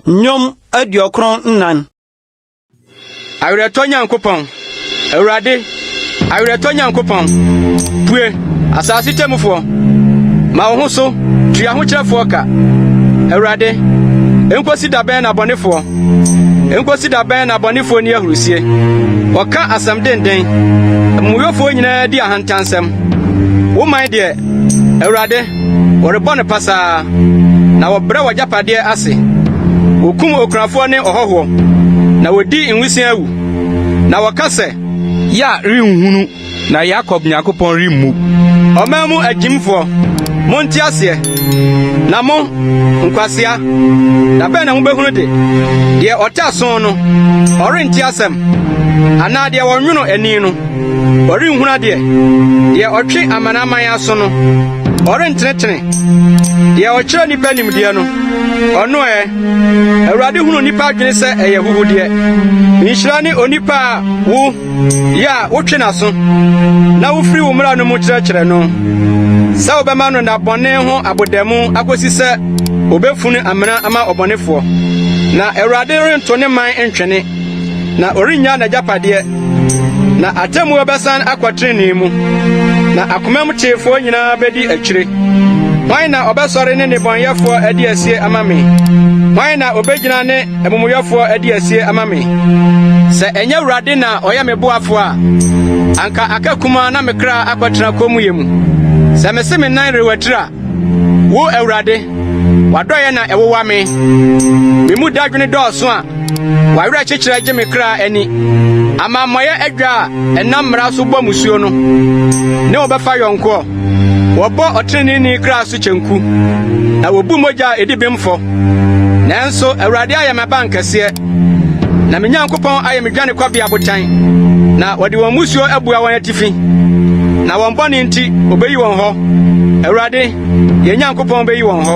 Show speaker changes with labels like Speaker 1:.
Speaker 1: Nnwom aduokron nnan.
Speaker 2: Awerɛtɔ Nyankopɔn, Awurade, awerɛtɔ Nyankopɔn, pue, asase tɛmufoɔ, ma wo ho so, tua ho kyerɛfoɔ ka. Awurade, enkosi da bɛn na bɔnefoɔ Enkosi da bɛn na abɔnefo ani ahurusie? Wɔka asɛm denden. Amumuyɔfoɔ nyinaa di ahantansɛm. Wo man deɛ, Awurade, wɔrebɔ no pasaa, na wɔbrɛ w'agyapadeɛ ase. Wɔkum okunafoɔ ne ɔhɔhoɔ, na wɔdi nwisiaa wu, na wɔka sɛ. Yea, renhunu. Na Yakob Nyankopɔn remmu. Ɔman mu agyimfoɔ, monte aseɛ, na mo, nkwasea, da bɛn na mobɛhunu de? Deɛ ɔte aso no, ɔrente asɛm? Anaa deɛ ɔnwono ani no, ɔrenhunu adeɛ? Deɛ ɔtwe amanaman aso no, ɔrentenetene? Deɛ ɔkyerɛ nnipa nimdeɛ no, ɔno ɛ? Awurade hunu nnipa adwene sɛ ɛyɛ ahuhudeɛ. Nhyira ne onipa a wo Yɛ a wotwe n'aso na wofiri wo mmara no mu kyerɛkyerɛ no sɛ wobɛma no nna bɔne ho abodamu akosi sɛ obefunu amena ama ɔbɔnefoɔ. Na Awurade rento ne man ntwene, na ɔrennya n'agyapadeɛ. Na atemmuo bɛsan akɔ trenee mu, na akomam teefoɔ nyinaa bɛdi akyire. Hwan na ɔbɛsɔre ne nnebɔneyɛfoɔ adi asie ama me? Hwan na obegyina ne Amumuyɔfoɔ adi asie ama me. Sɛ ɛnyɛ Awurade na ɔyɛ me boafoɔ a, anka aka kumaa na me kra akɔtena kommyɛ mu. Sɛ mese me nan rewatiri a, wo Awurade, w'adɔeɛ na ɛwowa me. Me mu dadwene dɔɔso a, w'awerɛkyekyerɛ gye me kra ani. Amammɔeɛ adwa a ɛnam mmara so bɔ musuo no ne wo bɛfa yɔnkoɔ. Wɔbɔ ɔtreneeni kra so kyenku, na wobu mogya a edi bem fɔ. Nanso Awurade ayɛ m'abankɛseɛ, na me Nyankopɔn ayɛ me dwanekɔbea botan, na wɔde wɔn mmusuo abua wɔn atifi, na wɔn bɔne nti obeyi wɔn hɔ. Awurade, yɛn Nyankopɔn beyi wɔn hɔ.